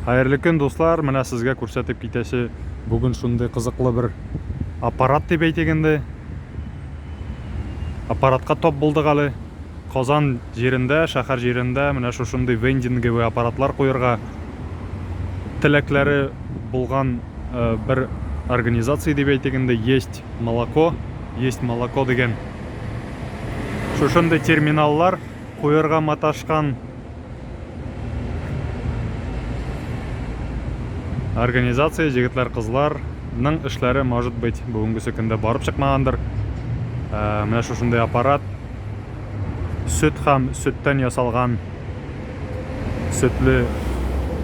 Хәерле көн дуслар, менә сезгә күрсәтеп китәсе бүген шундый кызыклы бер аппарат дип әйтик инде. Аппаратка топ булдык әле. Казан җирендә, шәхәр җирендә менә шушындый вендинговый аппаратлар куерга теләкләре булган бер организация дип әйтик инде, Есть молоко, Есть молоко дигән шушындый терминаллар куерга маташкан Организация җегетләр-кызларның эшләре, может быть, бүгенгесе көндә барып чыкмагандыр. Ә, менә шушындый аппарат. Сөт һәм сөттән ясалган сөтле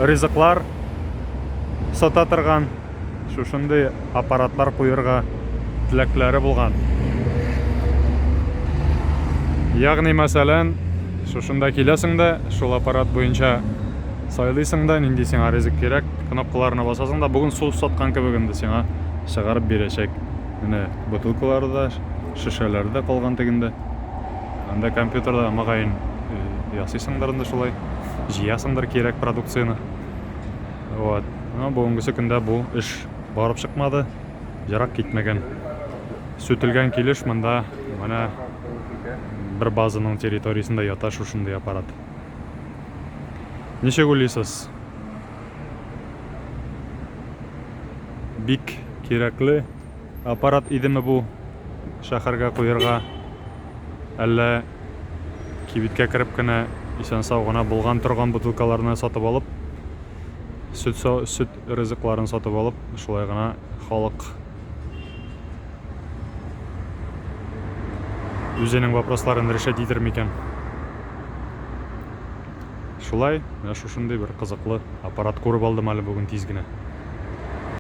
ризыклар сата торган. шушындый аппаратлар куерга теләкләре булган. Ягъни, мәсәлән, шушында киләсең дә, шул аппарат буенча сайлыйсың да, нинди сиңа ризык кирәк, кнопкаларына басасың да, бүген су саткан кебек инде сиңа чыгарып бирәчәк. Менә бутылкалары да, шешәләре дә калган тегендә. Анда компьютерда мөгаен ясыйсыңдыр инде шулай, җыясыңдыр кирәк продукцияне. Вот. Но бүгенгесе көндә бу эш барып чыкмады. Ерак китмәгән. Сүтелгән килеш монда менә бер базаның территориясендә ята шушындый аппарат. Ничек уйлыйсыз? Бик кирәкле аппарат идеме бу шәһәргә куярга? Әллә Кибеткә кереп кенә исән-сау гына булган-торган бутылкаларны сатып алып, сөт, сөт ризыкларын сатып алып, шулай гына халык үзенең вопросларын решать итер микән? Шулай, менә шушындый бер кызыклы аппарат күреп алдым әле бүген тиз генә.